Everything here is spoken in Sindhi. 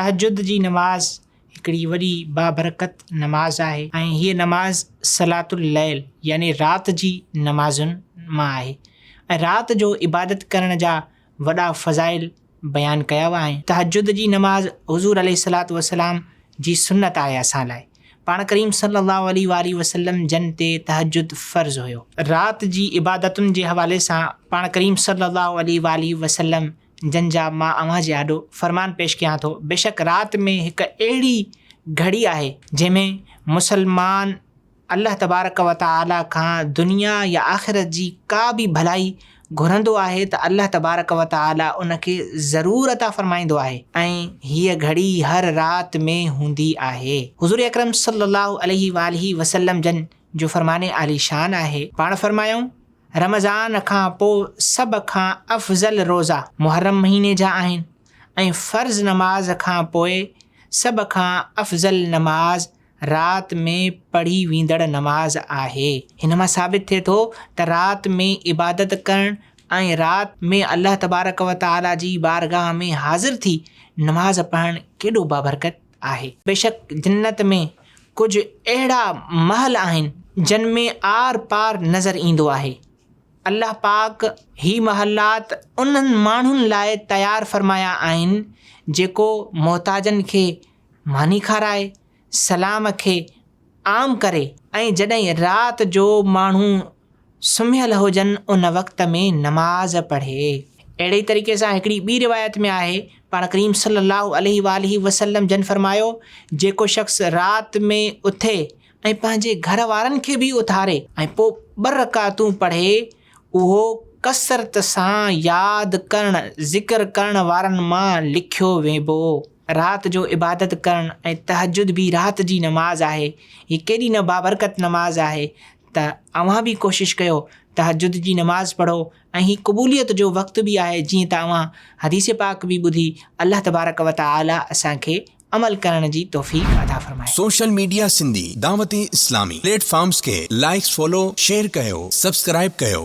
تهجد جي نماز هڪڙي وڏي بابرڪت نماز آهي ۽ هيء نماز صلات الليل يعني رات جي نمازن مان آهي ۽ رات جو عبادت ڪرڻ جا وڏا فضائل بيان ڪيا ويا آهن. تهجد جي نماز حضور عليه الصلوة والسلام جي سنت آهي اسان لاء پاڻ ڪريم صلي الله عليه وآله وسلم جن تي تهجد فرض هيو. رات جي عبادتن جي حوالي سان پاڻ ڪريم صلي الله عليه وآله وسلم جن جا مان اوهان جي آڏو فرمان پيش ڪيان ٿو، بيشڪ رات ۾ هڪ اهڙي گهڙي آهي جنهن ۾ مسلمان الله تبارڪ و تعاليٰ کان دنيا يا آخرت جي ڪا به ڀلائي گهرندو آهي ته الله تبارڪ و تعاليٰ ان کي ضرور عطا فرمائيندو آهي ۽ هيء گهڙي هر رات ۾ هوندي آهي. حضور اڪرم صلّي اللّٰه عليه واٰله وسلّم جن جو فرمان عالي شان آهي، پاڻ فرمايائون، رمضان کان پوء سڀ کان افضل روزا محرم مهيني جا آهن ۽ فرض نماز کان پوء سڀ کان افضل نماز رات ۾ پڙهي ويندڙ نماز آهي. هن مان ثابت ٿئي ٿو ته رات ۾ عبادت ڪرڻ ۽ رات ۾ الله تبارڪ و تعاليٰ جي بارگاهه ۾ حاضر ٿي نماز پڙهڻ ڪيڏو بابرڪت. آهي. بيشڪ جنت ۾ ڪجهه اهڙا محل آهن جن ۾ آر پار نظر ايندو آهي. الله پاڪ هي محلات انهن ماڻهن لاء تيار فرمايا آهن جيڪو محتاجن کي ماني کارائي، سلام کي عام ڪري ۽ جڏهن رات جو ماڻهو سمهيل هجن ان وقت ۾ نماز پڙهي. اهڙي ئي طريقي سان هڪڙي ٻي روايت ۾ آهي، پاڻ ڪريم صلي الله عليه واٰله وسلم جن فرمايو، جيڪو شخص رات ۾ اٿي ۽ پنهنجي گهر وارن کي به اٿاري ۽ پوء ٻه رڪعتون پڙهي اهو ڪثرت سان ياد ڪرڻ، ذڪر ڪرڻ وارن مان لکيو ويبو. رات جو عبادت ڪرڻ ۽ تهجد به رات جي نماز آهي. هي ڪيڏي نه بابرڪت نماز آهي ته اوهان به ڪوشش ڪيو تهجد جي نماز پڙهو ۽ هي قبوليت جو وقت به آهي جيئن ته اوهان حديث پاڪ به ٻڌي الله تبارڪ و تعاليٰ اسان کي عمل ڪرڻ جي توفيق عطا فرمائي. Social media Sindhi Dawat Islami platforms کي لائيڪس فالو شيئر ڪيو سبسڪرائيب ڪيو.